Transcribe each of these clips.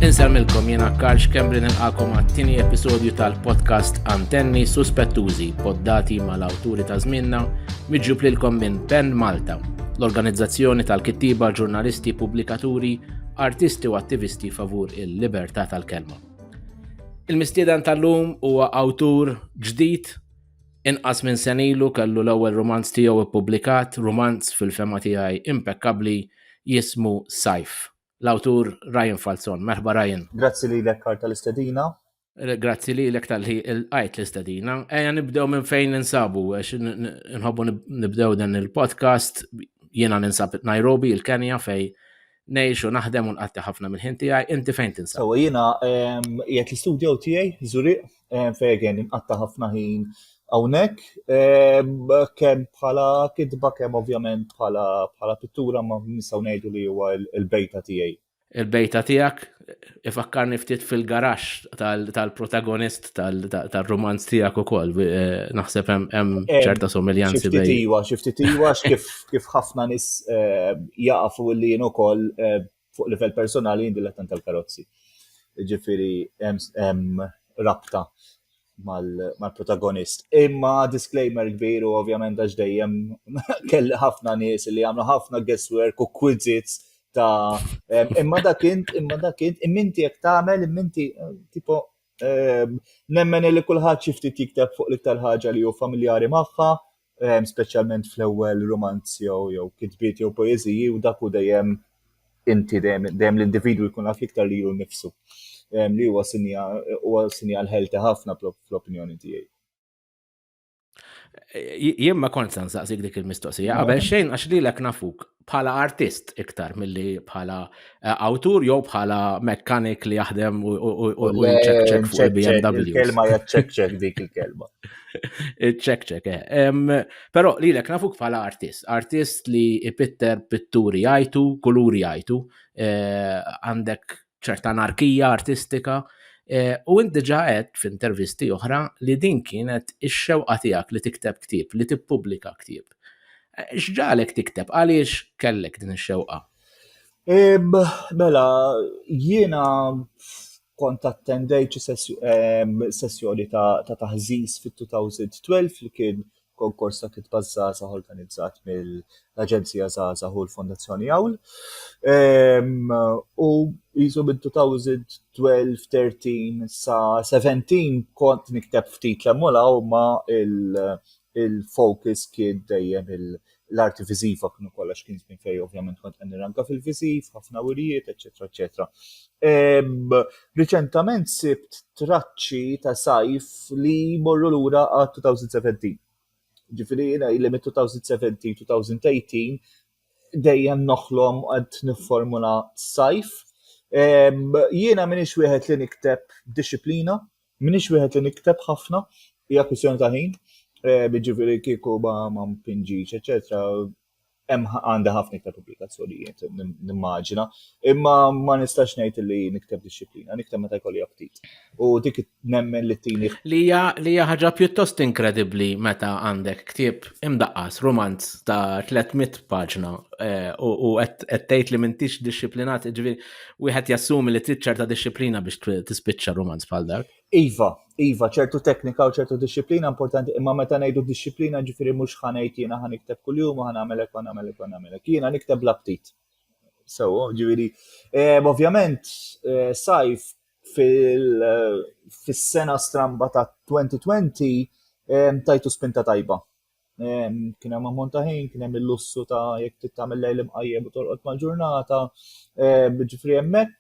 Insemmilkom jena Karl Kembrin il-għakom għattini episodju tal-podcast Antenni Suspettużi, poddati mal-awturi ta' zminna, miġġub lilkom minn Pen Malta, l-organizzazzjoni tal-kittiba, ġurnalisti, publikaturi, artisti u attivisti favur il-libertà tal-kelma. Il-mistieden tal-lum huwa awtur ġdid Inqas minn sen ilu kellu l-ewwel rumanz tiegħu ppubblikat, rumanz fil-fehma tiegħi impekkabbli jismu Sajf. L-awtur Ryan Falzon. Merħba Ryan. Grazzi lilek Karl tal-istedina. Grazzi lilek tal-li lqajt l-istedina. Ejja nibdew minn fejn ninsabu għax nħobbu nibdew dan il-podcast jiena ninsab Nairobi, il-Kenja fej Ngħix u naħdem u nqatti ħafna mill-ħin tiegħi, inti fejn tinsab? Sewa jiena ehm, qiegħed l-istudjo tiegħi Zuriq ehm, fejn inqatta' ħafna ħin hawnhekk ehm, kemm bħala kitba kemm ovvjament bħala pittura ma nistgħu ngħidu li huwa l-bejta tiegħi. Il-bejta tiegħek ifakkarni ftit fil-garax tal-protagonist tal-romanz tijak u koll, eh, naħseb hemm eh, ċerta somiljanzi bej. Xiftitiwa, xiftitiwa, kif ħafna nis eh, jaqfu li jenu koll fuq livell personali jindi l-attan tal-karozzi. Ġifiri, hemm rabta mal-protagonist. Imma disclaimer kbir u ovvjament għax dejjem kelli ħafna nies li għamlu ħafna guesswork u quizzits ta' imma dak int, imma dak int, imminti jekk tagħmel, imminti eh, tipo eh, nemmen li kulħadd xi ftit jikteb fuq l-iktar ħaġa li hu familjari magħha ehm, speċjalment fl-ewwel romanz jew jew kitbiet jew poeżiji u dak u dejjem inti dejjem dejjem l-individwu jkun għaf iktar li jkun nifsu. Ehm, li huwa sinja huwa sinjal ħelti ħafna fl-opinjoni tiegħi. Jien ma kont se nsaqsik dik il-mistoqsija qabel xejn għax lilek nafuk bħala artist iktar milli bħala eh, awtur jew bħala mekkanik li jaħdem u jċekċek fuq il-BMW. Il-kelma jaċċekċek dik il-kelma. Iċċekċek, eh. Però li l nafuk bħala artist, artist li ipitter pitturi jajtu, kuluri jajtu, eh, għandek ċerta anarkija artistika eh, u int diġà qed f'intervisti oħra li din kienet ix-xewqa tiegħek li tikteb ktieb, li tippubblika ktieb. Eh, x'ġalek tikteb għaliex kellek din ix-xewqa? Mela, jiena kont attendejt sessjoni ta' taħżiż fit-2012 li kien Konkors ta' Kitba Żgħażagħ organizzat mill-Aġenzija Żgħażagħ u l-Fondazzjoni Awl. U jisu minn 2012, 13 sa 17 kont nikteb ftit l-emmolaw ma il-focus kien dejjem l-arti viżiva kienu kollox kien żmien fej ovvjament kont qed nirranka fil-viżiv, ħafna wirjiet, eċetera, eċetera. Riċentament sibt traċċi ta' sajf li morru lura għal 2017. Ġifieri jiena li mit 2017 2018 dejjem noħlom qed nifformula sajf. Jiena minix wieħed li nikteb disciplina, M'iniex wieħed li nikteb ħafna, hija kwistjoni ta' ħin, jiġifieri kieku ma ma mpinġix, eċetera, hemm għandi ħafna iktar pubblikazzjonijiet nimmaġina, imma ma nistax ngħid li nikteb disċiplina, nikteb meta jkolli aptit. U dik nemmen li tini. Li hija li hija ħaġa pjuttost inkredibbli meta għandek ktieb imdaqqas romanz ta' 300 paġna eh, u qed tgħid li m'intix disciplinat, ġifieri Wieħed jassumi li trid ċerta disċiplina biex tispiċċa romanz bħal dak. Iva, iva, ċertu teknika u ċertu disċiplina importanti, imma meta ngħidu disċiplina ġifieri mhux ħanejt jiena ħa nikteb kuljum u ħanagħmelek u nagħmelek u nagħmelek. Jiena nikteb l-aptit. So, ġifieri, eh, ovvjament eh, sajf fil-sena eh, stramba ta' 2020 tajtu spinta tajba kien hemm ammont ta' ħin, kien hemm il-lussu ta' jekk trid tagħmel lejl imqajjem u torqod mal-ġurnata, ġifri hemmhekk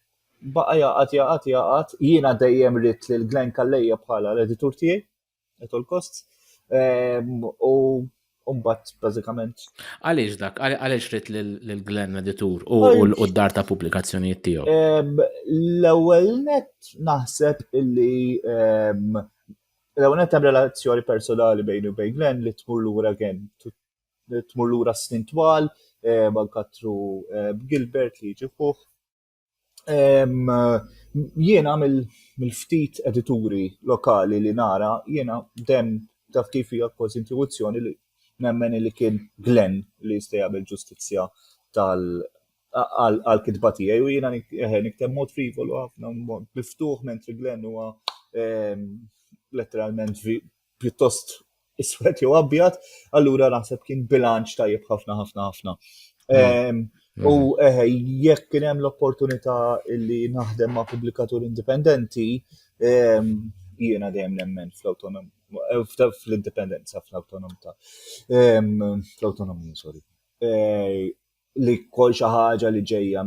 baqa' jaqgħad jaqgħad jaqgħad jiena dejjem rid lil Glenn Kallejja bħala l-editur tiegħi at all costs u mbagħad bażikament. Għaliex dak, għaliex rid lil Glenn editur u l-qoddar ta' pubblikazzjonijiet tiegħu? L-ewwel net naħseb illi L-ewwel nett hemm relazzjoni personali bejni u bejn Glenn li tmur lura again, tmur lura snin twal, eh, ma nkattru eh, Gilbert li jiġi ħuħ. Jiena mill-ftit edituri lokali li nara, jiena dem taf kif hija kważi intuizzjoni li nemmen li kien Glenn li jista' jagħmel ġustizzja tal għal kitba tiegħi u jiena eh, nikteb mod frivolu ħafna mod miftuħ mentri Glenn huwa ehm, letteralment pjuttost iswed jew abjad, allura naħseb kien bilanċ tajjeb ħafna ħafna ħafna. Mm. Ehm, mm. U eh, jekk kien hemm l-opportunità li naħdem ma' pubblikatur indipendenti, ehm, jiena dejjem nemmen fl-autonom eh, fl-indipendenza fl-autonomità. Fl-autonomija, sorry. Eh, li kol xi ħaġa li ġejja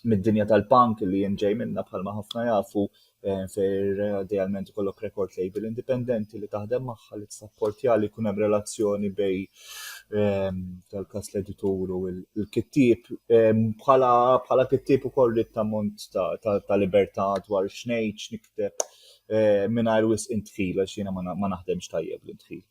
mid-dinja tal-punk li jien ġej minnha bħalma ħafna jafu eh, fejn idealment ikollok record label indipendenti li taħdem magħha li tsapportja li jkun hemm relazzjoni bej eh, tal-każ l-editur u l-kittieb eh, bħala kittieb ukoll rid tammont ta' libertà dwar x'ngħid x'nikteb mingħajr wisq intħil għax jiena ma naħdemx tajjeb l-intħil.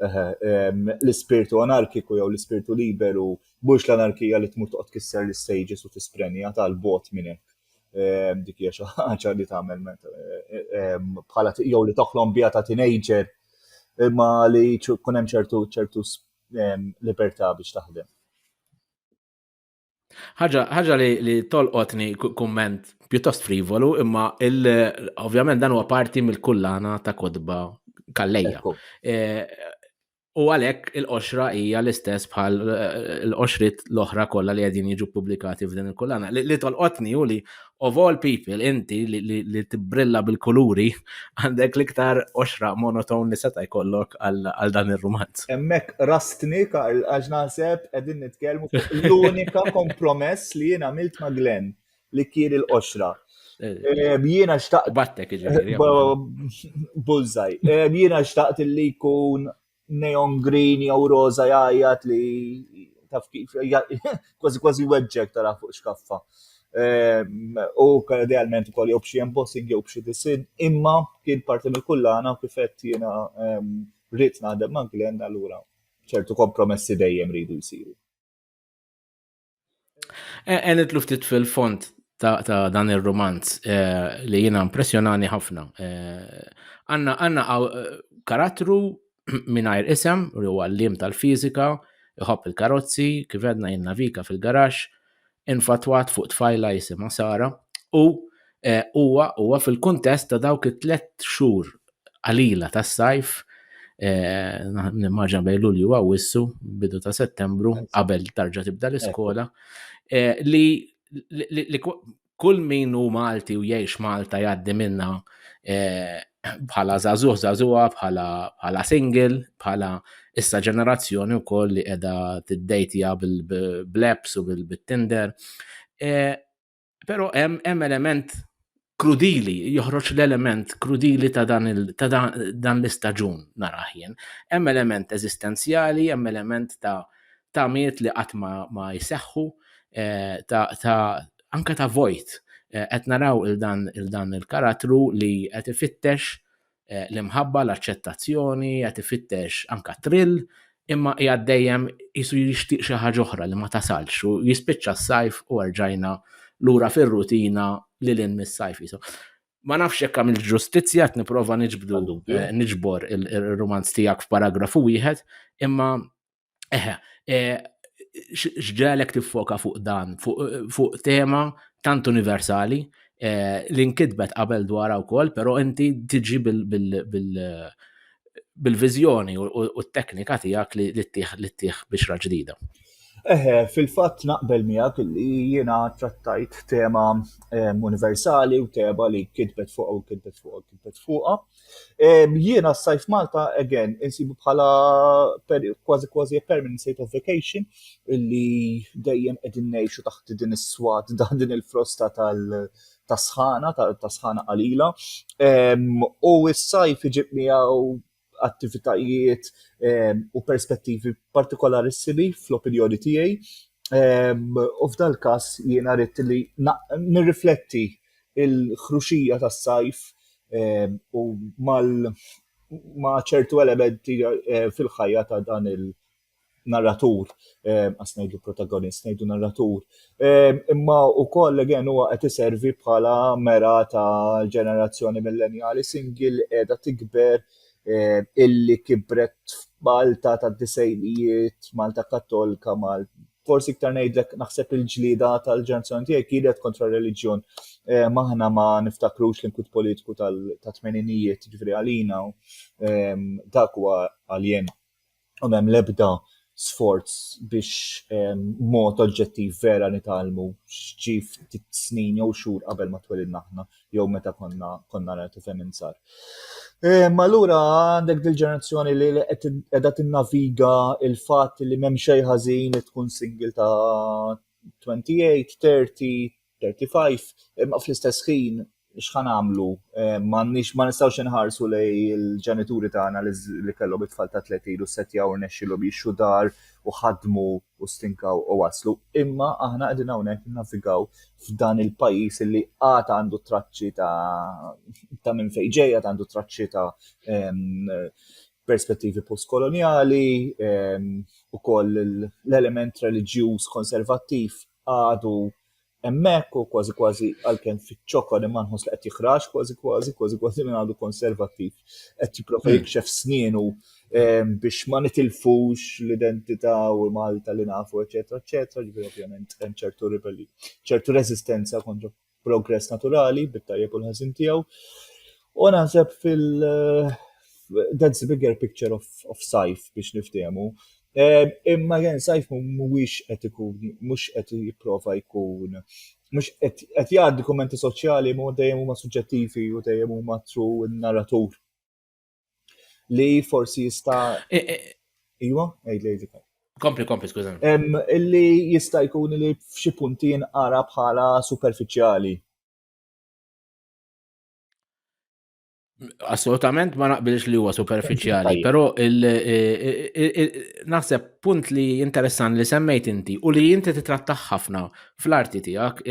L-ispirtu anarkiku jew l-ispirtu liberu mhux l-anarkija li tmur toqgħod kisser l-istages u tisprenja tal-bot minn hekk. Ehm, dik hija xi ħaġa li tagħmel ehm, bħala jew li toħlom biha ta' teenager imma li jkun hemm ċertu ċertu ehm, libertà biex taħdem. ħaġa li, li tolqotni kumment pjuttost frivolu, imma ovvjament dan huwa parti mill-kullana ta' kodba kallejja. E, u għalhekk il-qoxra hija l-istess bħal e, l-qoxrit l-oħra kollha li qegħdin jiġu pubblikati f'din il-kullana. Li tolqotni u li of all people, inti li tibbrilla bil-kuluri, għandek l-iktar oxra monoton li seta' jkollok għal dan ir-rumanz. Hemmhekk rastni, Karl, għax naħseb qegħdin nitkellmu fuq l-unika kompromess li jien għamilt ma' Glenn, li kien il-qoxra. Eh, jiena xtaqt. Battek iġifieri. Bullseye. Eh, jiena xtaqt li jkun neon green jew roża jgħajjat li taf kif kważi kważi weġġek tara fuq xkaffa. Ehm, u idealment ukoll jew b'xi embossing jew b'xi disin, imma kien parti mill-kullana u kif qed jiena ehm, rrid naħdem ma' Glenn allura ċertu kompromessi dejjem ridu jsiru. E, e, nitlu ftit fil-font ta', ta dan il-romanz e, li jina impressjonani ħafna. E, għanna għanna karattru minajr isem, u huwa l-lim tal-fizika, iħobb il-karozzi, kif għedna jinnavika fil-garax, infatwat fuq tfajla jisima Sara, u huwa huwa fil-kuntest ta' dawk it-tlet xhur qalila tas-sajf eh, nimmaġna bejn Lulju u Wissu bidu ta' Settembru qabel tarġa' tibda l-iskola eh, li kull min hu Malti u jgħix Malta jgħaddi minna eh, bħala zazuħ zazuħa, bħala single, bħala issa ġenerazzjoni u koll li edha t-dejtija bil-bleps u bil-tinder. Però hemm element krudili, joħroġ l-element krudili ta' dan, ta dan l-istaġun naraħ jien. Hemm element eżistenzjali, hemm element ta' ta' miet li qatt ma, ma jseħħu, eh, ta', ta anka ta' vojt. Eh, qed naraw il-dan il-dan il-karattru li qed ifittex eh, l-imħabba, l-aċċettazzjoni, qed ifittex anka trill, imma qiegħed dejjem jisu jixtieq xi ħaġa oħra li ma tasalx u jispiċċa s-sajf u erġajna lura fir-rutina li l mis-sajf jisu. Ma nafx jekk għamil ġustizzja qed nipprova niġbdu eh, niġbor ir-romanz tiegħek f'paragrafu wieħed, imma Eħe, eh, xġalek tiffoka fuq dan, fuq tema tant universali eh, li nkitbet qabel dwar wkoll, però inti tiġi bil-viżjoni u t-teknika tiegħek li ttieħ biex raġdida. Eħe, fil-fatt naqbel miegħek li jiena trattajt tema eh, universali u tema li kitbet fuq u kitbet fuq u kitbet fuqha. Jiena s-sajf Malta, again, insibu bħala kważi kważi permanent state of vacation illi dejjem qegħdin ngħixu taħt din is-swat da din il-frosta tal-sħana, tas-sħana qalila. U s-sajf iġib miegħu attivitajiet u perspettivi partikolari sibi fl-opinjoni tiegħi. U f'dal-każ jiena rrid li nirrifletti il-ħruxija tas-sajf u ma' ċertu elementi fil-ħajja ta' dan il-narratur, għas ngħidu protagonist, ngħidu narratur. Imma wkoll again huwa qed iservi bħala mera ta' ġenerazzjoni millenjali single qiegħda tikber illi kibret f'Malta tad-disgħinijiet, Malta Kattolika, forsi iktar ngħidlek naħseb il-ġlida tal-ġenerazzjoni tiegħi kienet kontra r-reliġjon. Eh, maħna ma niftakrux l-inkwit politiku tal-tmeninijiet ġifri għalina ehm, dak huwa għaljen. U hemm l-ebda sforz biex ehm, mod oġġettiv vera nitalmu xġif snin jew xhur qabel ma twelidna aħna. jew meta konna konna nagħtu fejn insar. Ehm, allura għandek dil-ġenerazzjoni li qiegħda tinnaviga il-fatt li m'hemm xejn ħażin li tkun single ta' 28, 30, 35, imma fl-istess ħin x'ħan għamlu, ehm, ma nistgħux inħarsu li l-ġenituri tagħna li kellhom it-tfal ta' 30 u setjaw rnexxilhom jixxu dar u ħadmu u stinkaw u waslu, imma aħna qegħdin hawnhekk innavigaw f'dan il-pajjiż li għad għandu traċċi ta' ta' minn fejn ġej, għad għandu traċċi ta' perspettivi postkolonjali, ukoll l-element reliġjuż konservattiv għadu Hemmhekk u kważi kważi għalkemm fiċ-ċokon imma nħoss li qed jiħraġ kważi kważi kważi kważi minn għadu konservattiv qed jipprova hmm. jikxef snienu ehm, biex ma nitilfux l-identità u Malta li nafu eċetera eċetera ġifieri ovvjament hemm ċertu ribelli ċertu reżistenza kontra progress naturali bit-tajjeb u l-ħażin tiegħu. U naħseb fil- eh, that's the bigger picture of, of Saif biex niftehmu Imma Ren Saif mhuwiex qed ikun mhux qed jipprova jkun mhux qed qed jgħaddi kummenti soċjali ma dejjem huma suġġettivi u dejjem huma tru n-narratur. Li forsi jista' e, e, Iwa, għid lejdi Kompli, kompli, skuża. Illi jista' jkun li f'xi punti jinqara bħala superfiċjali. Assolutament ma naqbilx li huwa superfiċjali, però naħseb punt li interessan li semmejt inti u li inti titrattaħ ħafna fl-arti tiegħek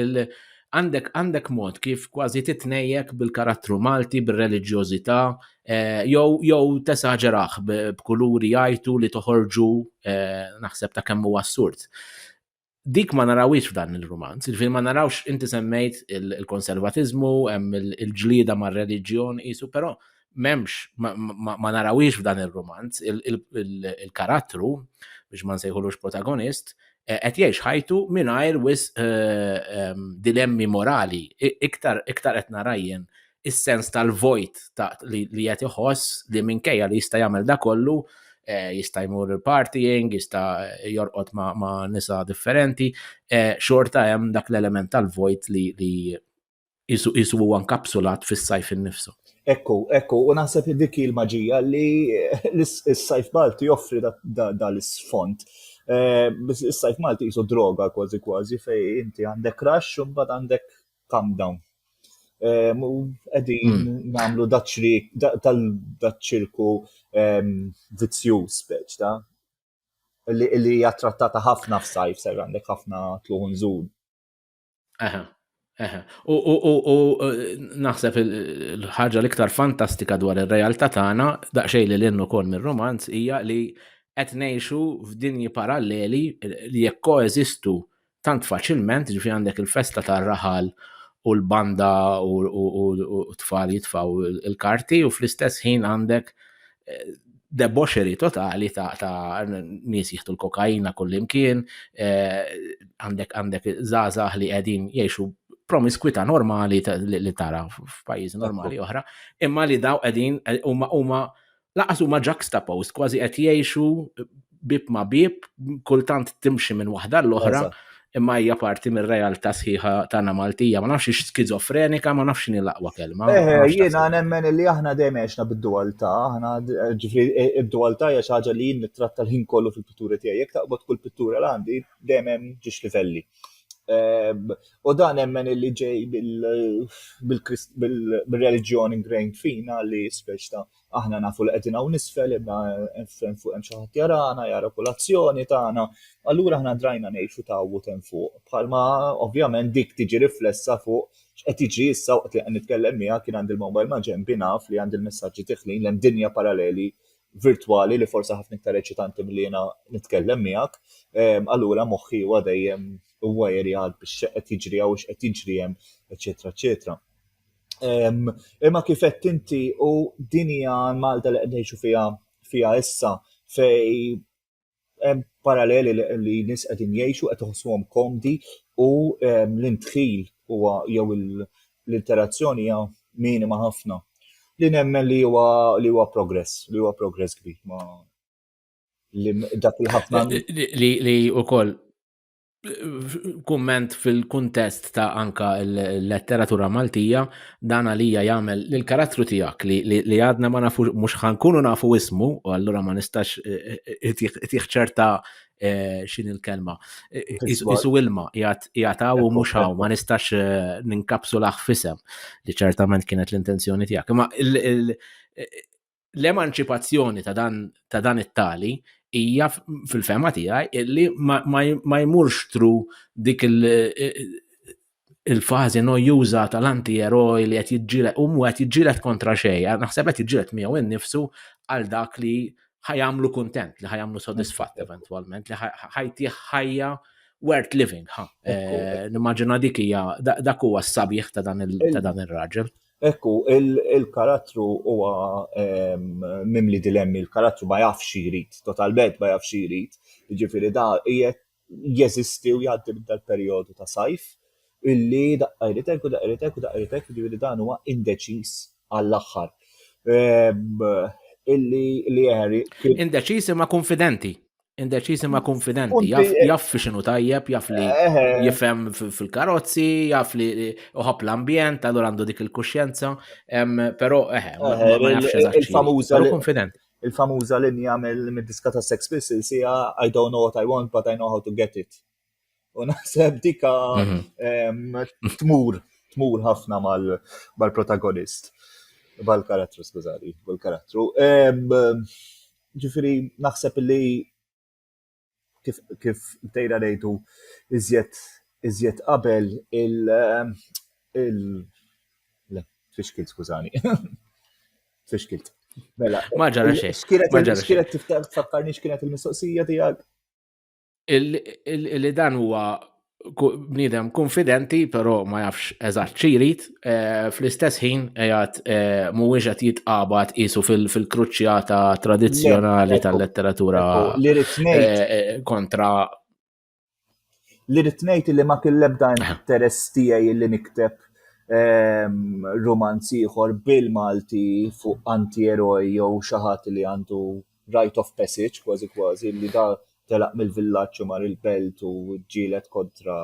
għandek għandek mod kif kważi titnejjek bil-karattru Malti, bil-reliġjożità, eh, jew jew tesaġeraħ b'kuluri jajtu li toħorġu eh, naħseb ta' kemm huwa assurd. dik ma narawiex f'dan il-romanz, il-fil ma narawx inti semmejt il-konservatizmu, hemm il-ġlida ma' reliġjon isu, però memx ma narawiex f'dan il-romanz, il-karattru, biex ma nsejħulux protagonist, e, qed jgħix ħajtu mingħajr wis e, e, dilemmi morali, iktar iktar qed narajjen is-sens tal-vojt ta' li qed iħoss li minkejja li jista' jagħmel da kollu eh, jista' jmur il-partying, jista' jorqod ma', ma nisa differenti, eh, xorta hemm dak l-element tal-vojt li, li jisu, jisu huwa nkapsulat fis-sajf innifsu. Ekku, ekku, u naħseb li dik il-maġija li s-sajf Malti joffri dal-sfond. Eh, is-sajf Malti jisu droga kważi kważi fej inti għandek rax u mbagħad għandek calm down. Ehm, u qegħdin hmm. nagħmlu daċrik tal-daċirku ehm, vizzjuż speċ ta' li hija trattata ħafna f'sajf ser għandek ħafna tluħun żul. Aha. U uh, naħseb il-ħaġa l-iktar fantastika dwar ir-realtà tagħna, daqsxejn li l-innu kol mir-romanz, hija li qed ngħixu f'dinji paralleli li jekk koeżistu tant faċilment, ġifi għandek il-festa tar-raħal u l-banda u t-tfal jitfaw il-karti u fl-istess ħin għandek eh, deboxeri totali ta', ta nies jieħdu l-kokaina kullimkien, eh, għandek għandek zazah li qegħdin jgħixu promiskwita normali li tara f'pajjiżi normali oħra, imma li daw qegħdin eh, huma huma laqas huma juxtaposed, kważi qed jgħixu bib ma' bib, kultant timxi minn waħda l-oħra, imma hija parti mir-realtà sħiħa tagħna Maltija. Ma nafx ix skizofrenika, ma nafx x'inhi l-aqwa kelma. Eh, jiena nemmen li aħna dejjem għexna bid-dualtà, aħna ġifri e, id-dualtà hija xi ħaġa li jien nittratta l-ħin kollu fil-pitturi tiegħi. Jekk taqbad kull pittura l għandi dejjem hemm ġiex livelli. Ehm, u dan emmen illi ġej bil-reliġjon ingrained fina li speċta aħna nafu li qegħdin hawn nisfel imma hemm fuq hemm xi ħadd jarana, jara kulazzjoni tagħna. Allura aħna drajna ngħixu tawwut hemm fuq. Bħalma ovvjament dik tiġi riflessa fuq x'qed jiġri issa waqt li qed nitkellem miegħek kien għandi l-mobile ma' ġenbi naf li għandi l-messaġġi tiħlin l-hemm dinja paralleli virtwali li forsi ħafna iktar eċitanti milli jiena nitkellem miegħek, ehm, allura moħħi huwa dejjem huwa jeri għal biex qed jiġri hawn x'qed jiġri hemm, eċetera, eċetera. Ehm, imma kif qed inti u din hija Malta li qed ngħixu fiha fiha issa fej paralleli li nis qegħdin jgħixu qed iħossuhom komdi u ehm, l-intħil huwa jew l-interazzjoni hija minima ħafna. Li nemmen li huwa li huwa progress, li huwa progress kbir ma li dak il-ħafna li wkoll kumment fil-kuntest ta' anka l-letteratura Maltija dan għalija jagħmel l karattru tiegħek li għadna ma nafu mhux ħankunu nafu ismu u allura ma nistax itih ċerta xin il-kelma. Isu ilma jgħataw u mhux hawn ma nistax ninkapsu laħ fisem li ċertament kienet l-intenzjoni tiegħek. Ma l-emanċipazzjoni ta' dan, ta dan it-tali hija fil-fema tiegħi illi ma jmurx tru dik il-fażi nojjuża tal-anti-eroj li qed jiġġieled u qed jiġġieled kontra xejn, naħseb qed jiġġieled miegħu innifsu għal dak li ħajamlu kuntent, li ħajamlu sodisfatt eventwalment, li ħajtih ħajja worth living. Eh, nimmaġina dik hija dak huwa s-sabiħ ta' dan ir-raġel. Hekk hu, il-karattru huwa mimli dilemmi, il-karattru ma jafx xi jrid, totalment ma jafx xi jrid. Jiġifieri da qiegħed jeżisti u jgħaddi minn dal-perjodu ta' sajf illi daqqa jrid hekk u daqqa jrid hekk u daqqa jrid hekk, jiġifieri dan huwa indeċiż għall-aħħar. Illi, illi Harry kien. Indeċiż imma kunfidenti. Indeċiż imma konfidenti, jaf, eh, jaf fi xinu tajjeb, jaf li eh, eh. jifhem fil-karozzi, jaf li uħab l-ambjent, għadu għandu dik il-kuxjenza, pero eħe, ma jafx il-famuża. konfidenti. Il-famuża li jagħmel mid-diska ta' Sex Pistols hija I don't know what I want, but I know how to get it. U naħseb dika mhm. tmur, tmur ħafna mal-protagonist, mal-karattru, skużani, mal-karattru. Ġifiri, naħseb li kif, kif tejra nejtu iżjed iżjed qabel il il le fixkilt skużani. fixkilt. Mela. Ma ġara xejn. Xkienet tiftakkarni xkienet il-mistoqsija tiegħek? li dan huwa bniedem konfidenti, però ma jafx eżatt xi jrid, eh, fl-istess ħin qiegħed eh, mhuwiex qed jitqabad qisu fil-kruċjata tradizzjonali tal-letteratura eh, kontra li rrid ngħid li ma kien l-ebda interess tiegħi li nikteb ehm, romanzi ieħor bil-Malti fuq antieroj jew xi ħadd li għandu rite of passage kważi kważi li da telaq mill-villaġġ u mar il-belt u ġġieled kontra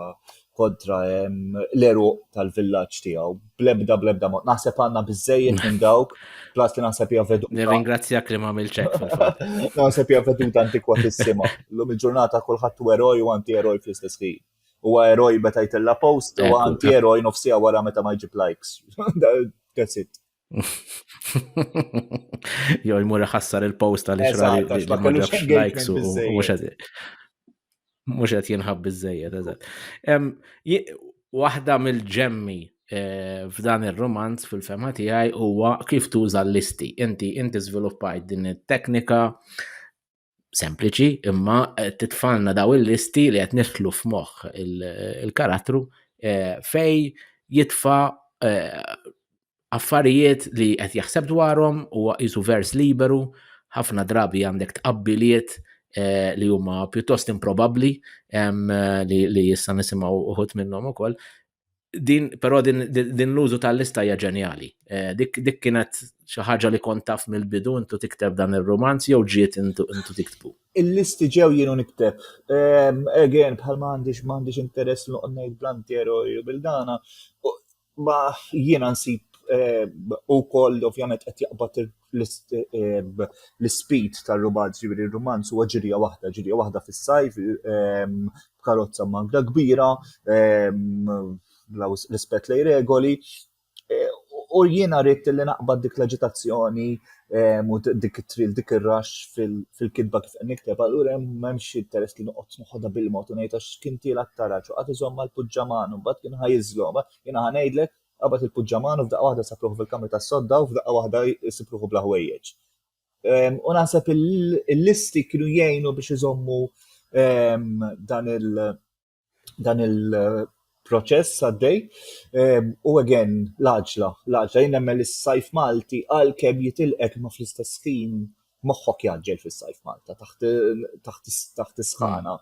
kontra ehm, l-eruq tal-villaġġ tiegħu. Blebda blebda mod. Naħseb għandna biżejjed minn dawk, plas li naħseb hija veduta. Nirringrazzjak li ma' milċek fil-fatt. Naħseb hija veduta antikwatissima. Lum il-ġurnata kulħadd u eroj u anti-eroj fl-istess ħin. U eroj meta jtella post u anti-eroj nofsija wara meta ma jġib likes. That's it. Jo jmur ħassar il-post għal ixra li ma ġabx likes u mhux qed mhux qed jinħab biżejjed eżatt. Waħda mill-ġemmi eh, f'dan ir-romanz fil-fema tiegħi huwa kif tuża l-listi. Inti inti żviluppajt din it-teknika sempliċi imma eh, titfalna daw il-listi li qed nidħlu f'moħħ il-karattru eh, fej jitfa eh, affarijiet li qed jaħseb dwarhom u jisu vers liberu ħafna drabi għandek tqabbiliet li huma pjuttost improbabbli li issa nisimgħu uħut minnhom ukoll din, però din, din l-użu tal-lista hija ġenjali. Eh, dik, dik kienet xi ħaġa li kont taf mill-bidu intu tikteb dan ir-romanz jew ġiet intu, intu tiktbu. Il-listi ġew jienu nikteb. Ehm, again, bħal ma għandix ma għandix interess noqgħod ngħid blantiero bil-dana. Ma jiena nsib eh, ukoll ovvjament qed jaqbad l-ispid tar-rumanz, ġifieri r-rumanz huwa ġirja waħda, ġirja waħda fis-sajf, ehm, b'karozza mangra kbira, ehm, bla rispett lej regoli. E, u jiena rrit li naqbad dik l-aġitazzjoni ehm, u dik it-tril, dik ir-rax fil-kitba kif qed nikteb, allura hemm xi interess li noqgħod noħodha bil-mod u ngħid għax kien tiela t-taraġ u qatt iżomm mal-puġġaman u mbagħad kien ħajiżlhom. Jiena ħanejdlek Qabad il-puġġaman u f'daqqa waħda sab ruħu fil-kamra tas-sodda u f'daqqa waħda jsib ruħu bla ħwejjeġ. Ehm, u naħseb il-listi kienu jgħinu biex iżommu ehm, dan il- dan il- proċess għaddej ehm, u again l-għaġla, l-għaġla jien nemmen li s-sajf Malti għalkemm jitilqek ma fl-istess ħin moħħok jaġġel fis-sajf Malta taħt is-sħana.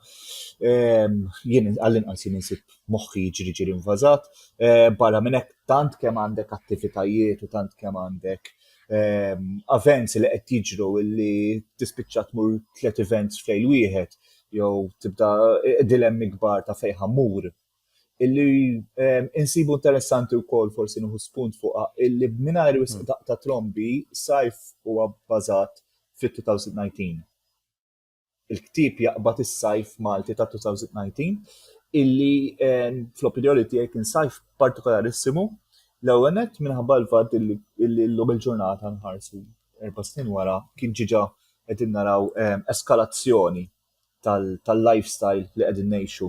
Ehm, jien għall-inqas jien insib moħħi jiġri ġiri invażat. Ehm, barra minn hekk tant kemm għandek attivitajiet u tant kemm għandek ehm, events li qed jiġru li tispiċċa tmur tliet events fejn wieħed jew tibda eh, dilemmi kbar ta' fejn ħammur illi ehm, insibu interessanti wkoll forsi nuhu spunt fuqha illi mingħajr wisq hmm. ta' trombi sajf huwa bbażat fit-2019. Il-ktieb jaqbad is-sajf Malti ta' 2019 illi ehm, fl-opinjoni tiegħi kien sajf partikolarissimu l-ewwel nett minħabba l-fatt illi llum il-ġurnata nħarsu erba' snin wara kien ġiġa qegħdin naraw ehm, eskalazzjoni tal-lifestyle li qegħdin ngħixu.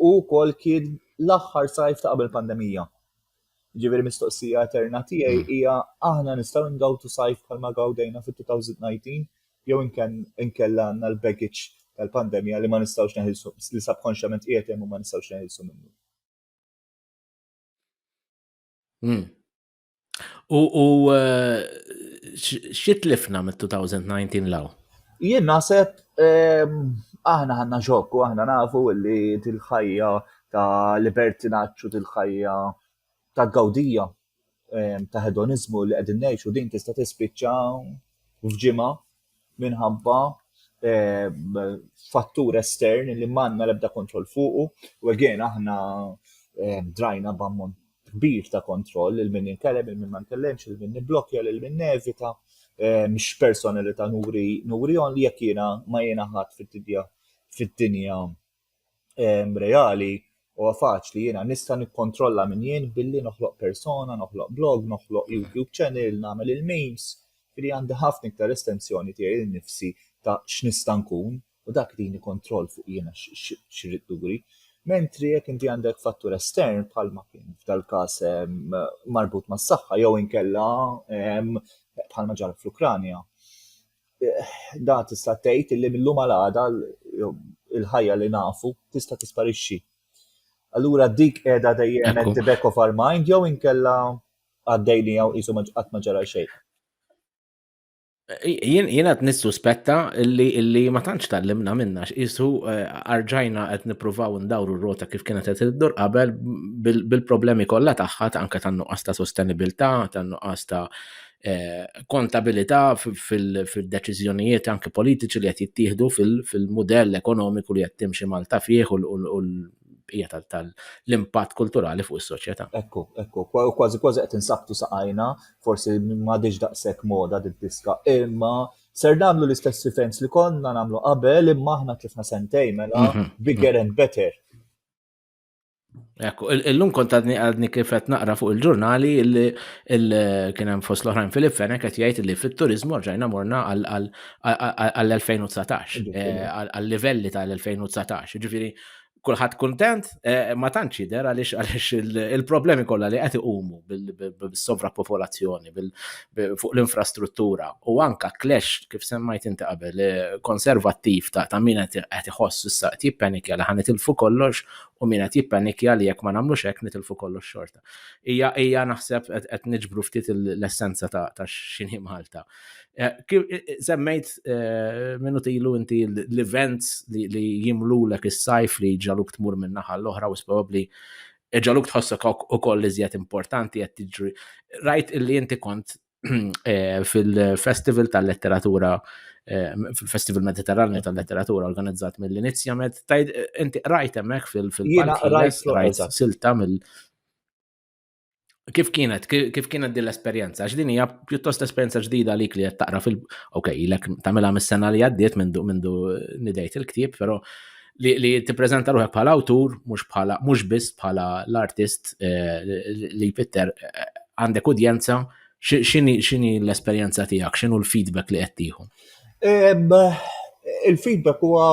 U wkoll kien l-aħħar sajf ta' qabel pandemija. Ġifieri mistoqsija eterna tiegħi hmm. hija aħna nistgħu ngawtu sajf bħalma gawdejna fit-2019 jew inkella għandna l-baggage tal-pandemija li ma nistgħux neħilsu li subkonxjament qiegħed hemm u ma nistgħux neħilsu minnu. Hmm. U, u eh, xitlifna mit-2019 law? Jien naħseb ehm, aħna ħanna xokku, aħna nafu li til-ħajja ta' libertinaċċu til-ħajja ta' gawdija ehm, ta' hedonizmu li qegħdin ngħixu din tista' tispiċċa f'ġimgħa minħabba eh, fattur estern li manna lebda kontroll fuqu u għegħen aħna eh, drajna b'ammont kbir ta' kontroll il min jinkellem, il min ma nkellemx, il min niblokja, il min nevita, eh, mhix personalità nuri nuri on li jekk jiena ma jiena ħadd fid-dinja fid-dinja reali huwa faċli jiena nista' nikkontrolla minn jien billi noħloq persona, noħloq blog, noħloq YouTube channel, nagħmel il-memes, ġifieri għandi ħafna iktar estensjoni tiegħi lil nifsi ta' x'nista' nkun u dak jtini kontroll fuq jiena x'irrid nuri. Mentri jekk inti għandek fattur estern bħalma kien f'dal-każ marbut mas-saħħa jew inkella bħalma ġara fl-Ukranja, dan tista' tgħid li mill-lum għal għada il-ħajja li nafu tista' tisparixxi. Allura dik qiegħda dejjem at the back of our mind jew inkella għaddej li jew qisu qatt ma ġara xejn. Jien qed nissuspetta illi illi ma tantx tallimna minna x'isu eh, arġajna qed nippruvaw ndawru r-rota kif kienet qed iddur qabel bil-problemi kollha tagħha anke tan-nuqqas ta' sostenibilità, tan-nuqqas ta' Eh, kontabilità fil-deċiżjonijiet anke politiċi li qed jittieħdu fil-mudell ekonomiku li qed timxi Malta fih u l-bqija tal-impatt kulturali fuq is-soċjetà. Ekku, ekku, kważi kważi qed insabtu saqajna, forsi m'għadix daqshekk moda diska imma ser nagħmlu l-istess rifens li konna nagħmlu qabel imma aħna tlifna sentej mela mhm. bigger and better. Ekku, illum kont għadni għadni kif qed naqra fuq il-ġurnali li kien hemm fost l-oħrajn Filip Fenek qed jgħid li fit-turizmu rġajna morna għall-2019 eh, għall-livelli tal-2019. Ġifieri kulħadd kuntent eh, ma tantx jidher għaliex għaliex il-problemi kollha li qed iqumu bis-sovrappopolazzjoni, fuq l-infrastruttura u anka clash kif semmajt inti qabel eh, konservattiv ta', ta min qed iħoss issa qed jippanikja li ħan nitilfu kollox u min qed jippanikja li jekk ma nagħmlux hekk nitilfu kollox xorta. Hija hija naħseb qed niġbru ftit l-essenza ta', ta x'inhi Malta. Eh, kif eh, eh, semmejt minnu tilu inti l-events li jimlulek is-sajf li ġaluk tmur minn naħa l-oħra u s-probabli Iġaluk tħossok ukoll iżjed importanti qed tiġri. Rajt illi inti kont eh, fil-Festival tal-Letteratura eh, fil-Festival Mediterranju tal-Letteratura organizzat mill-inizjament, tajd inti rajt hemmhekk fil-palk, rajt silta mill- Kif kienet, kif kienet din l-esperjenza? Għax din hija pjuttost esperjenza ġdida li li qed taqra fil ok, lek tagħmilha mis-sena li għaddiet mindu mindu nidejt il-ktieb, però li, li tippreżenta ruħek bħala awtur, mhux bħala mhux biss bħala l-artist eh, li Peter eh, għandek udjenza, x'inhi l-esperjenza tiegħek, x'inhu l-feedback li qed tieħu? Il-feedback huwa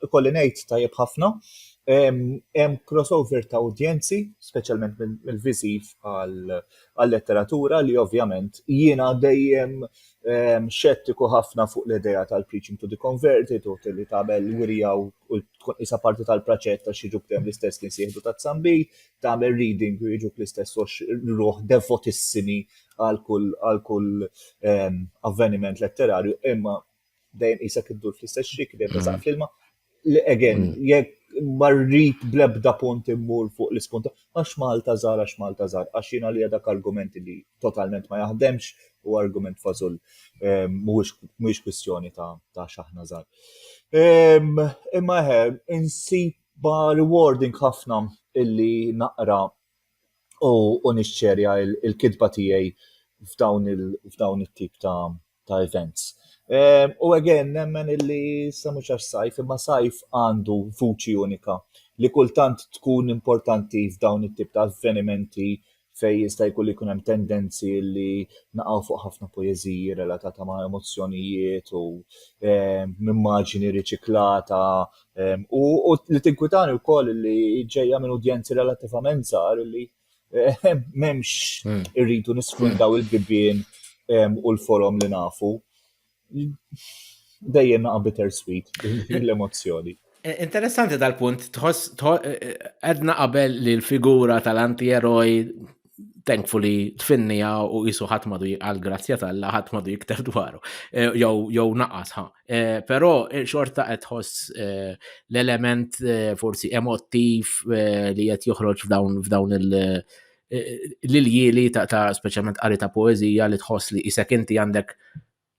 ikolli ngħid tajjeb ħafna. Hemm crossover ta' udjenzi, speċjalment mill-viżiv għal-letteratura li ovvjament jiena dejjem xettiku ħafna fuq l-idea tal-preaching to the converted u li tagħmel wirja u tkun isa parti tal-praċett ta' xiġu btem l-istess kien sieħdu ta' zambi, tagħmel reading u jiġuk l-istess ruħ devotissimi għal kull avveniment letterarju, imma dejjem qisek iddur fl-istess xrik, dejjem tażaq mm. fl-ilma. Again, mm. jekk marrit blebda punt immur fuq l-ispunta, għax Malta żar, għax Malta żar, għax jina li dak argument li totalment ma jaħdemx u argument fażul ehm, mhuwiex kwistjoni ta' xaħna żar. Ehm, imma eħe, insib ba rewarding ħafna illi naqra u nixxerja il-kidba tiegħi f'dawn it-tip ta' ta' events. Ehm, u again, nemmen illi sa mhux għax sajf, imma sajf għandu vuċi unika li kultant tkun importanti f'dawn it-tip ta' avvenimenti fej jista' jkun li jkun hemm tendenzi li naqgħu fuq ħafna poeżiji relatata ma' emozzjonijiet u ehm, immaġini riċiklata ehm, u li tinkwitani wkoll li ġejja minn udjenzi relattivament żgħar li Memx hmm. irridu nisfruttaw il-bibien u l-forom li nafu. Dejjem naqa bittersweet l-emozzjoni. Eh, interessanti dal-punt, tħoss eh, eh, għedna qabel li l-figura tal-anti-eroj thankfully tfinnija u jisu ħatmadu għal-grazzja tal-la ħatmadu jiktar dwaru, jow naqas ħa. Eh, però eh, xorta qed tħoss eh, l-element forsi emottiv li qed joħroġ f'dawn f'dawn il- l-iljili ta', ta speċjalment qari ta' poezija li tħoss li isek inti għandek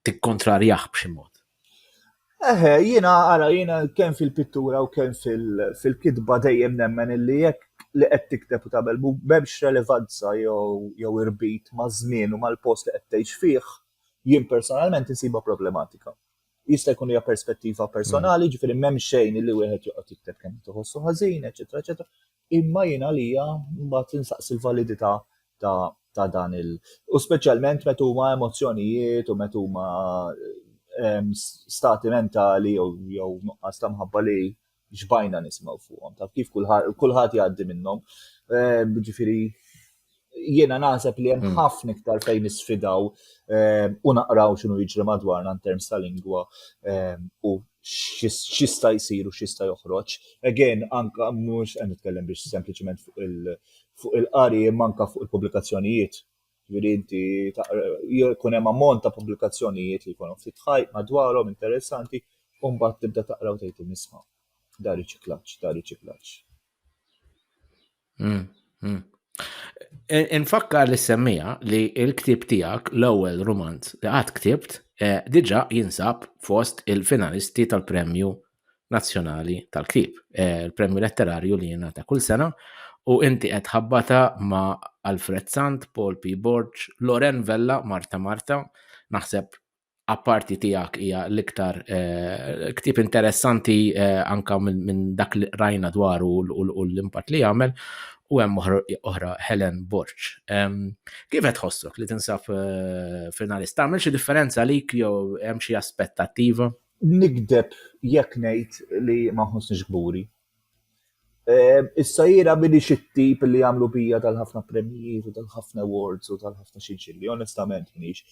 tikkontrarjah b'xi mod. Eħe, jina għara, jina kem fil-pittura u kem fil-kitba dejjem nemmen illi jekk li qed tikteb u tagħmel b'hemmx relevanza jew irbit ma' żmien u mal-post li qed tgħix fih, Jien personalment insibha problematika. Jista' jkun hija perspettiva personali, ġifieri m'hemm xejn li wieħed joqgħod jikteb kemm tħossu ħażin, eċetera, eċetera. Imma jien għalija mbagħad insaqsi l-validità ta' ta' dan il u speċjalment meta huma emozzjonijiet u meta huma ehm, stati mentali jew nuqqas ta' mħabba li xbajna nismaw fuqhom, taf kif kulħadd jgħaddi minnhom. Ehm, ġifieri jiena naħseb li hemm hmm. ħafna iktar fejn nisfidaw ehm, u naqraw x'inhu jiġri madwarna in terms ta' lingwa ehm, u x'jista' jsir u x'jista' joħroġ. Again, anka mhux qed nitkellem biex sempliċement fuq il-qari manka fuq il-pubblikazzjonijiet Ġifieri inti jkun hemm ammont ta' pubblikazzjonijiet li jkunu ftit ħajt madwarhom interessanti u mbagħad tibda taqra u tgħid nisma' dar riċiklaġġ, dar riċiklaġġ. Mm, mm. Infakkar li semmija li il-ktib tiegħek l-ewwel romanz li qatt ktibt eh, diġà jinsab fost il-finalisti tal-premju nazzjonali tal-ktieb, eh, il-premju letterarju li jingħata kull sena u inti qed ħabbata ma' Alfred Sant, Paul P. Borg, Loren Vella, Marta Marta, naħseb apparti tiegħek hija l-iktar eh, ktieb interessanti eh, anka minn dak li rajna dwaru u l-impatt li jagħmel u hemm oħra Helen Borg. Kif qed tħossok li tinsab finalista? Tagħmel xi differenza għalik jew hemm xi aspettattiva? Nigdeb jekk ngħid li ma nħossnix kburi. Issa jiena m'iniex it-tip li jagħmlu bija tal-ħafna premjijiet u tal-ħafna awards u tal-ħafna xinxilli, onestament m'iniex.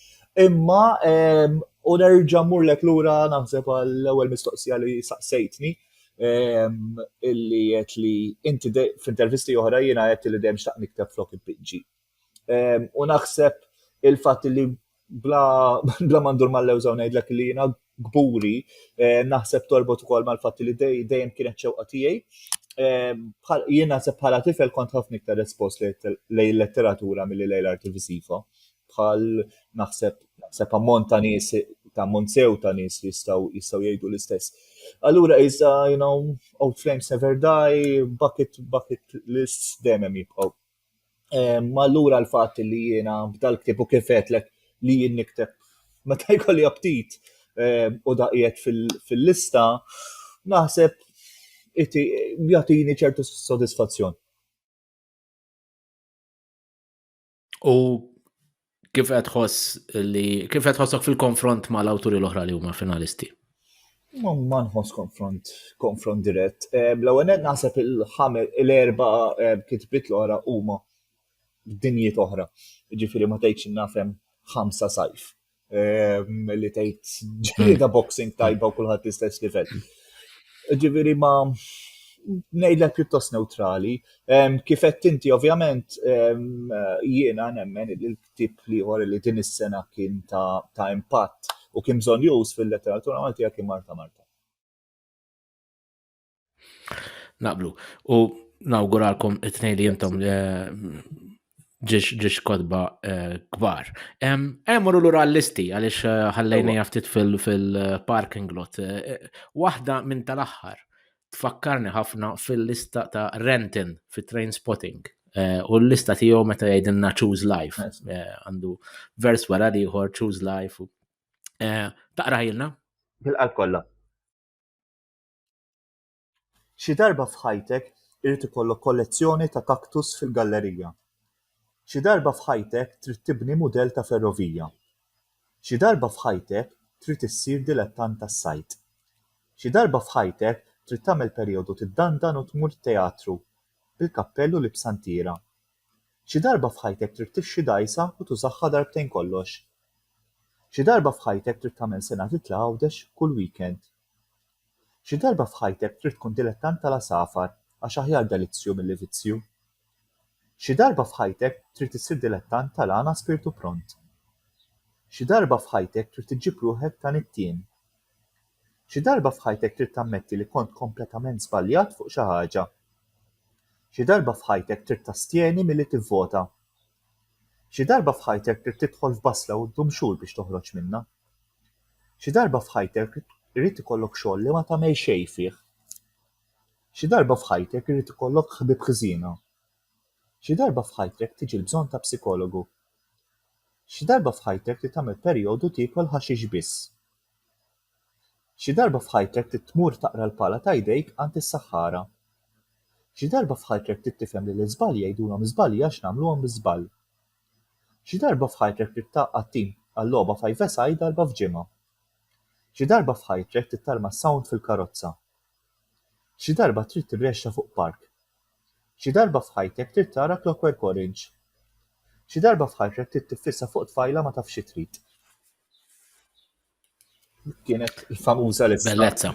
Imma u nerġa' mmurlek lura naħseb għall-ewwel mistoqsija li saqsejtni illi għedt li inti f'intervisti oħra jiena għedt li dejjem xtaqt nikteb flok inpinġi. Ehm, u naħseb il-fatt li bla, bla mandur mal-lewża ngħidlek li jiena gburi, eh, naħseb torbot ukoll mal-fatt li dejjem kienet xewqa tiegħi. Ehm, jien naħseb bħala tifel kont ħafna iktar espost lej letteratura milli lejn l-arti visiva. Bħal naħseb naħseb ammont ta' nies ta' monsew ta' nies li jistgħu jistgħu jgħidu l-istess. Allura iżda, you know, Old Flames Never Die, Bucket Bucket List dejjem jibqgħu Ma allura l-fatt li jiena b'dal ktib u kif għedtlek li jien nikteb meta jkolli aptit u daqiet fil-lista, naħseb jagħtini ċertu sodisfazzjon. U Kif qed tħoss li kif qed tħossok fil-konfront ma' l-awturi l-oħra li huma finalisti? Ma nħoss konfront, konfront dirett. Eh, l-ewwel qed naħseb il-ħames l-erba eh, kitbiet l-oħra huma dinjiet oħra. Ġifieri ma tgħidx nafhem ħamsa sajf eh, li tgħid ġlieda hmm. boxing tajba u kulħadd l-istess livell. Ġifieri ma ngħidlek pjuttost neutrali, Kif qed inti ovvjament jiena nemmen li l-ktieb liħor li din is-sena kien ta' impatt u kien bżonnjuż fil-letteratura Maltija kien Marta Marta. Naqblu. U nawguralkom it-tnejn li jintom ġiex ġiex kodba eh, kbar. Emmorru l-ura l-listi għalix eh, ħallejni jaftit fil-parking lot. Eh, waħda minn tal-axħar tfakkarni ħafna fil-lista ta' Renton fit train spotting. U l-lista tiegħu meta jgħidilna choose life. Għandu vers wara liħor choose life. Taqrajilna? Bil-qalb kollha. Xi darba f'ħajtek irid ikollok kollezzjoni ta' cactus fil-gallerija. Xi darba f'ħajtek trid tibni mudell ta' ferrovija. Xi darba f'ħajtek trid issir dilettant tas-sajd. Xi darba f'ħajtek trid tagħmel perjodu tiddandan u tmur teatru bil-kappell u libsa ntiera. Xi darba f'ħajtek trid tixxi dgħajsa u tużagħha darbtejn kollox. Xi darba f'ħajtek trid tagħmel sena titla' Għawdex kull weekend. Xi darba f'ħajtek trid tkun dilettant tal-għasafar għax aħjar delizzju milli vizzju. Xi darba f'ħajtek trid issir dilettant tal-għana spirtu pront. Xi darba f'ħajtek trid iġġib ruħek ta' nittien. Xi darba f'ħajtek trid tammetti li kont kompletament żbaljat fuq xi ħaġa. Xi darba f'ħajtek trid tastjeni milli tivvota. Xi darba f'ħajtek ridt tidħol f'basla u ddum xhur biex toħroġ minnha. Xi darba f'ħajtek irid ikollok xogħol li ma tagħmel xejn fih. Xi darba f'ħajtek irid ikollok ħbieb ħżiena. Xi darba f'ħajtek tiġi l-bżonn ta' psikologu. Xi darba f'ħajtek trid tagħmel perjodu tiekol ħaxix biss. Xi darba f'ħajtek trid tmur taqra l-pala ta' jdejk għand is-saħħara. Xi darba f'ħajtrek trid tifhem li l-iżbalji jgħidulhom żbalji għax nagħmluhom biż-żball. Xi darba f'ħajtrek trid tgħaqqad tim għal-logħba five-a-side darba f'ġimgħa. Xi darba f'ħajtrek trid tarma s-sound fil-karozza. Xi darba trid tirrexxa fuq park. Xi darba f'ħajtek trid tara Clockwork Orange. Xi darba f'ħajtrek trid tiffissa fuq tfajla ma tafx xi trid. Kienet famuża l Bellezza.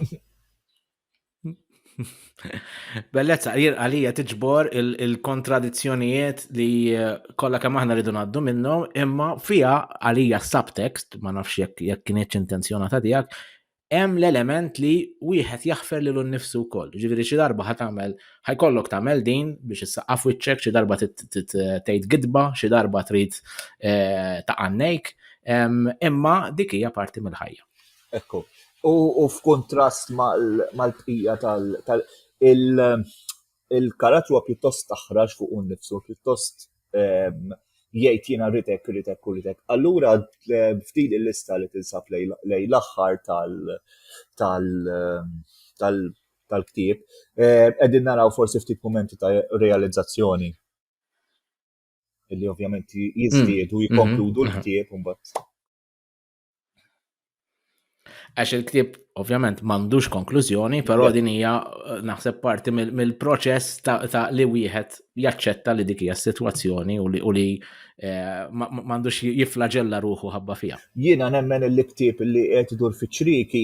Bellezza, jir għalija tiġbor il-kontradizzjonijiet li eh, kollha kemm aħna rridu ngħaddu minnhom, imma fija għalija subtext, ma nafx jekk jekk kienx intenzjonata tiegħek, hemm l-element li wieħed jaħfer lilu nnifsu wkoll. Ġifieri xi darba ħatamel ħajkollok tagħmel din biex issaqqaf wiċċek xi darba tgħid gidba, xi darba trid eh, ta' għannejk, imma dik hija parti mill-ħajja. Ekku. U f'kuntrast mal-bqija tal- il-karat huwa pjuttost taħraġ fuq un nifsu, pjuttost jgħid jiena ritek, ritek u ritek. Allura f'din il-lista li tinsab lej l-aħħar tal- tal- tal-ktieb, eh, qegħdin naraw forsi ftit momenti ta' realizzazzjoni illi ovvjament jiżdiedu mm. jikkonkludu mm-hmm. l-ktieb imbagħad. Għax il-ktieb ovvjament m'għandux konklużjoni, però din hija eh, naħseb parti mill-proċess ta' li wieħed jaċċetta li dik hija s-sitwazzjoni u li Eh, m'għandux jiflaġella ruħu ħabba fija. Jiena nemmen il-liktib li qed idur fiċriki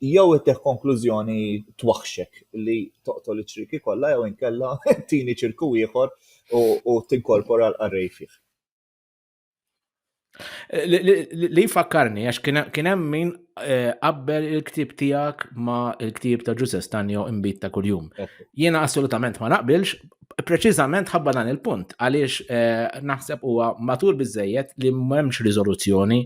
Jew ittieħ konklużjoni twaħħxek li toqtol iċ-ċrieki kollha jew inkella tini ċirku ieħor u tinkorpora l-qarrej fih. Li fakkarni, għax kien hemm min eh, qabbel il-ktib tiegħek ma il-ktib ta' Ġuże Stanjo imbit ta' kuljum. Jiena assolutament ma naqbilx Preċiżament ħabba dan il-punt, għaliex eh, naħseb huwa matur biżejjed li m'hemmx riżoluzzjoni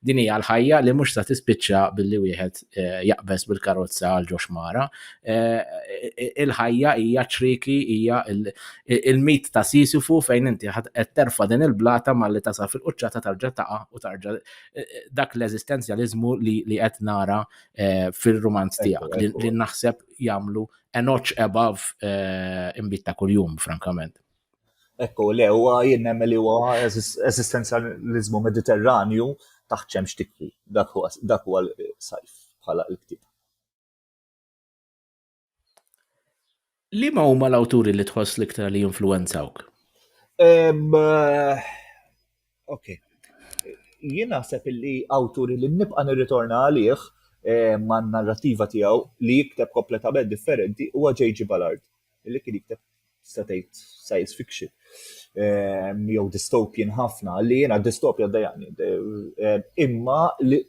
din hija l-ħajja li mhux sa tispiċċa billi wieħed eh, jaqbeż bil-karozza għal ġox mara. Eh, il-ħajja hija ċriki, hija il-mit ta' Sisifu fejn inti qed terfa din il-blata malli tasa fil-quċċata tarġa' taqa' u tarġa' dak l-eżistenzjaliżmu li qed nara fil-romanz tiegħek li naħseb jagħmlu a notch above eh, imbit ta' kuljum, frankament. Ekku, le, huwa jien nemmen li huwa eżistenzjaliżmu mediterranju taħt xemx tikwi. Dak huwa l-sajf bħala l-ktib. Li ma huma l-awturi li tħoss l-iktar li jinfluwenzawk? Eh, Ok. Jien naħseb illi awturi li nibqa' nirritorna għalih eh, ma' narrativa tiegħu li jikteb kompletament differenti huwa J.G. Ballard, li kien jikteb tista' tgħid science fiction eh, jew dystopian ħafna, li jiena dystopja dejani. Eh, imma li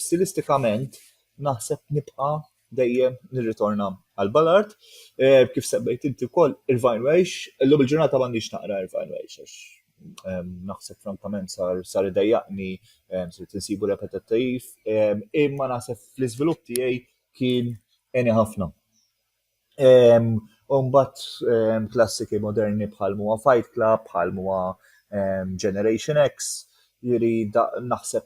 stilistikament naħseb nibqa' dejjem nirritorna għal Ballard. Eh, kif semmejt inti wkoll Irvine Welsh, illum il-ġurnata m'għandix naqra Irvine Welsh għax ehm, naħseb frankament sar sar idejjaqni ehm, sir tinsibu repetittiv, ehm, imma naħseb fl-iżvilupp tiegħi kien eni ħafna. Umbat klassiki moderni bħal muwa Fight Club, bħal muwa Generation X, jiri naħseb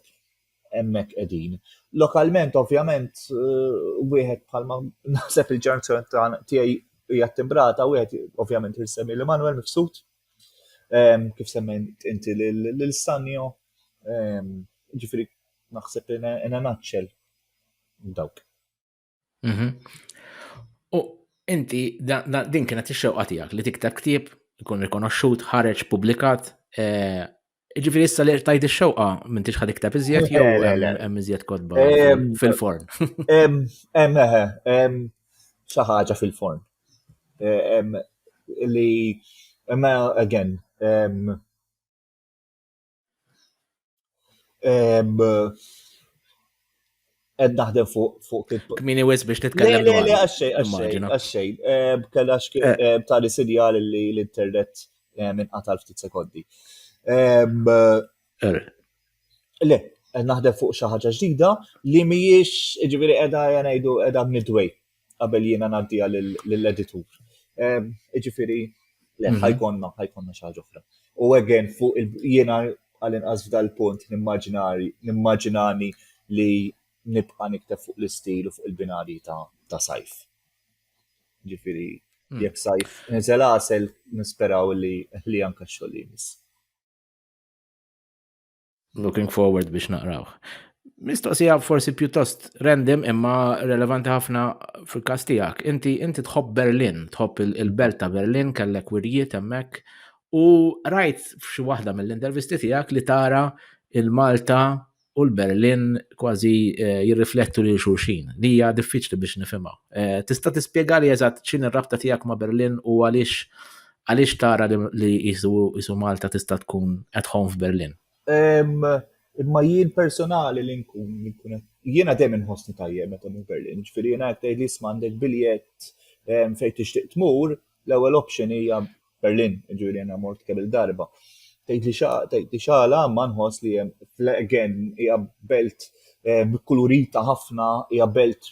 hemmhekk qegħdin. Lokalment ovvjament wieħed bħalma naħseb il-ġenerazzjoni tiegħi hija timbrata wieħed ovvjament irsemmi li Manuel mifsud ehm, kif semmen inti lil Sanjo ehm, ġifieri naħseb in a nutshell dawk. Mhm. U inti, din kienet ix-xewqa tiegħek li tikteb ktieb, ikun rikonoxxut, ħareġ, publikat. Eh, ġifiri issa li tajt ix-xewqa minn tix ħad ikteb iżjed jew hemm iżjed kodba fil-forn. Hemm hemm xi ħaġa fil-forn. Eh, li imma again Ed naħdem fuq fuq kif. Kmini wis biex titkellem. Le, le, għaxxej, għaxxej, għaxxej. Kellax tali sinjal li l-internet minn qatal ftit sekondi. Le, naħdem fuq xi ħaġa ġdida li mhijiex, ġifieri qiegħda ngħidu qiegħda midway qabel jiena ngħaddija lill-editur. Ehm, iġifieri, le, mhm. ħajkonna, ħajkonna xi ħaġa oħra. U again, fuq jiena għal-inqas f'dal-punt nimmaġinani li nibqa' nikteb fuq l-istil u fuq il-binari ta' sajf. Ġifieri, hmm. jekk sajf niżel għasel nisperaw li anka xogħol jimis. Looking forward biex naqrawh. Mistoqsija forsi pjuttost random imma relevanti ħafna fil-kas tiegħek. Inti inti tħobb Berlin, tħobb il-belt ta' Berlin, kellek wirjiet hemmhekk u rajt f'xi waħda mill-intervisti tiegħek li tara il-Malta u l-Berlin kważi eh, jirriflettu lil xulxin. Li hija diffiċli biex nifhimha. Eh, tista' tispjegali eżatt x'in ir-rabta tiegħek ma' Berlin u għaliex Għaliex tara li qisu Malta tista' tkun at home f'Berlin? Imma jien personali li nkun li nkun qed jiena dejjem inħossni tajjeb meta mmur Berlin, ġifieri jiena qed tgħidli isma' għandek biljett ehm, fejn tixtieq tmur, l-ewwel option hija Berlin, ġifieri jiena mort kemm il-darba. Tgħidli tgħidli x'għala ma nħoss li hemm again hija belt ehm, kulurita ħafna, hija belt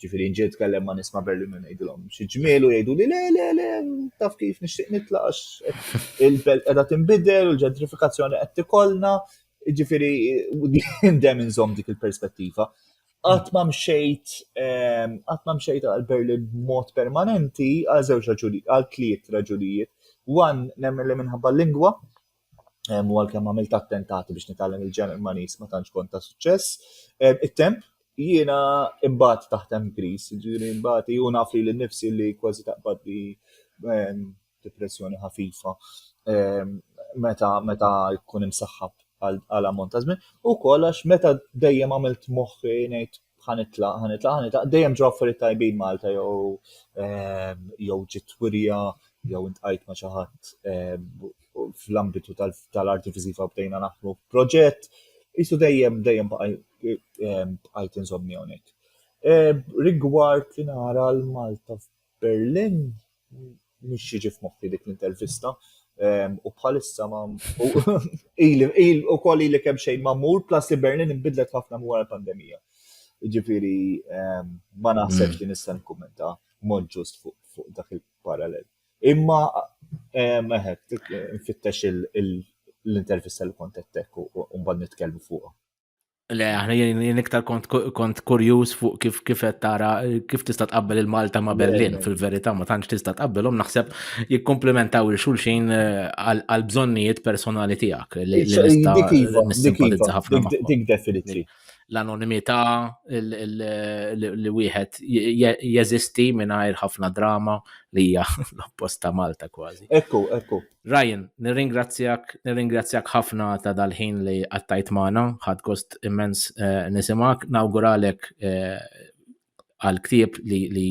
Ġifiri nġiet tkellem ma' nisma' Berlin u ngħidilhom xi ġmiel u jgħidu li le le le taf kif nixtieq nitlaqax il-belt qiegħda tinbidel u l-ġentrifikazzjoni qed tikollna. Ġifiri dejjem inżomm dik il-perspettiva. Qatt ma mxejt ehm, qatt ma mxejt għal Berlin b'mod permanenti għal żewġ raġuni għal tliet raġunijiet. Wan nemmen li minħabba l-lingwa, u għalkemm għamilt attentati biex nitgħallem il-Ġermaniż ma tantx kont ta' suċċess. It-temp jiena imbagħad taħtem Gris, ġifieri imbagħad u naf li l-nifsi li kważi taqbad li depressjoni ħafifa meta meta jkun imsaħħab għal ammont ta' żmien, ukoll għax meta dejjem għamilt moħħi ngħid ħanitlaq, ħanitlaq, ħanitlaq, dejjem ġo affarijiet tajbin Malta jew ehm, jew ġiet wirja jew intqajt ma' xi ħadd ehm, fl-ambitu tal-arti viżiva bdejna naħdmu proġett, jisu dejjem dejjem ehm, bqajt insomni hawnhekk. Rigward li nara l-Malta Berlin mhix jiġi f'moħħi dik l-intervista u bħalissa ma il ukoll li kemm xejn ma mur plus li Berlin inbidlet ħafna wara l-pandemija. Ġifieri ma naħseb li nista' nikkummenta mod ġust fuq dak il-parallel. Imma meħed nfittex l-intervista li kont qed u mbagħad nitkellmu fuqha. Le, aħna jien iktar kont kurjuż fuq kif kif qed tara kif tista' tqabbel il-Malta ma' Berlin fil-verità ma tantx tista' tqabbelhom naħseb jikkomplementaw il xulxin eh, għal bżonnijiet personali tiegħek li iva, nista' ħafna dik definitely. L-anonimità li wieħed jeżisti mingħajr ħafna drama li hija l-opposta Malta kważi. Ekku, ekku. Ryan, nirringrazzjak, nirringrazzjak ħafna ta' dal-ħin li qattajt magħna, ħadd gost immens eh, nisimak, nawguralek eh, għal ktieb li, li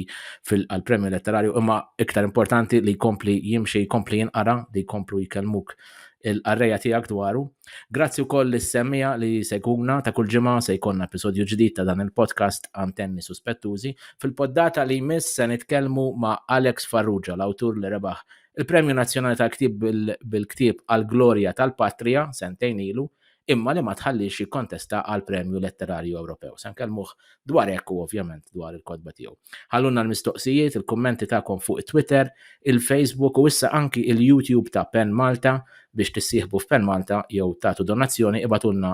fil-premju letterarju, imma iktar importanti li jkompli jimxi, jkompli jinqara, li jkomplu jkellmuk il-qarreja tiegħek dwaru. Grazzi wkoll lis semmija li se jkunna ta' kull ġimgħa se jkollna episodju ġdid ta' dan il-podcast Antenni Suspettużi. Fil-poddata li jmiss se nitkellmu ma' Alex Farrugia, l-awtur li rebaħ Il-Premju Nazzjonali tal-Ktieb bil-Ktieb għall-Glorja tal-Patrija sentejn ilu, imma li ma tħalliex jikkontesta għal Premju Letterarju Ewropew. Se nkellmuh dwar hekk u ovvjament dwar il-kotba tiegħu. Ħallulna l-mistoqsijiet, il-kummenti tagħkom fuq it-Twitter, il-Facebook u issa anki il-YouTube ta' Pen Malta biex tissieħbu f'Pen Malta jew tagħtu donazzjoni ibatulna